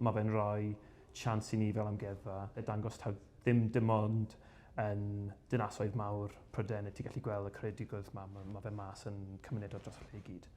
Mae fe'n rhoi siawns i ni fel amgueddfa a dangos taw ddim dim ond yn dinasoedd mawr Prydain y ti gallu gweld y creadigrwydd 'ma, ma' ma' fe mas yn cymunedau dros y lle i gyd.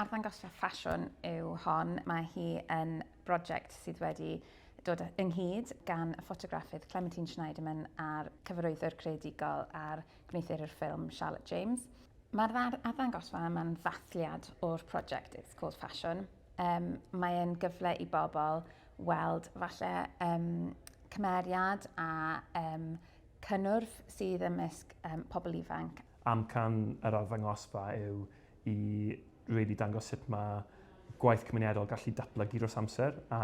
Arddangosfa ffasiwn yw hon, mae hi yn brosiect sydd wedi dod ynghyd gan y ffotograffydd Clementine Schneiderman a'r cyfarwyddwr creadigol a'r gwneuthurwr ffilm Charlotte James. Mae'r arddangosfa yma'n ddathliad o'r prosiect It's Called Fashion, Um, mae e'n gyfle i bobl weld falle um, cymeriad a um, cynnwrf sydd ymysg um, pobl ifanc. Amcan yr arddangosfa yw i really dangos sut mae gwaith cymunedol gallu datblygu dros amser a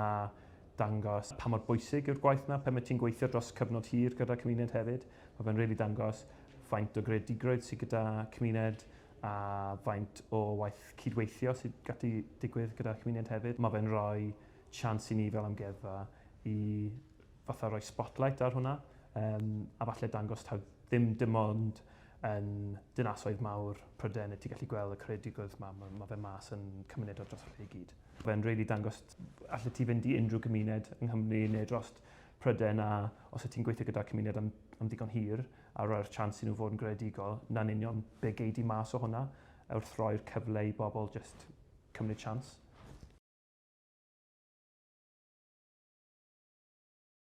dangos pa mor bwysig yw'r gwaith yna, pan mae ti'n gweithio dros cyfnod hir gyda cymuned hefyd. Mae fe'n really dangos faint o greadigrwydd sydd gyda cymuned, a faint o waith cyd-weithio sydd gallu digwydd gyda'r cymuned hefyd. Mae fe'n rhoi chance i ni fel amgueddfa i fatha rhoi spotlight ar hwnna um, a falle dangos taw ddim dim ond yn dinasoedd mawr Prydain y ti gallu gweld y creadigrwydd yma. Mae, mae fe mas yn cymuned o dros y lle i gyd. Fe'n really dangos allet ti fynd i unrhyw gymuned yng Nghymru neu dros Prydain a os y ti'n gweithio gyda'r cymuned am, am ddigon hir, a roi'r chance i nhw fod yn greadigol, 'na'n union be gei di mas o hwnna, wrth roi'r cyfle i bobl jyst cymryd chance.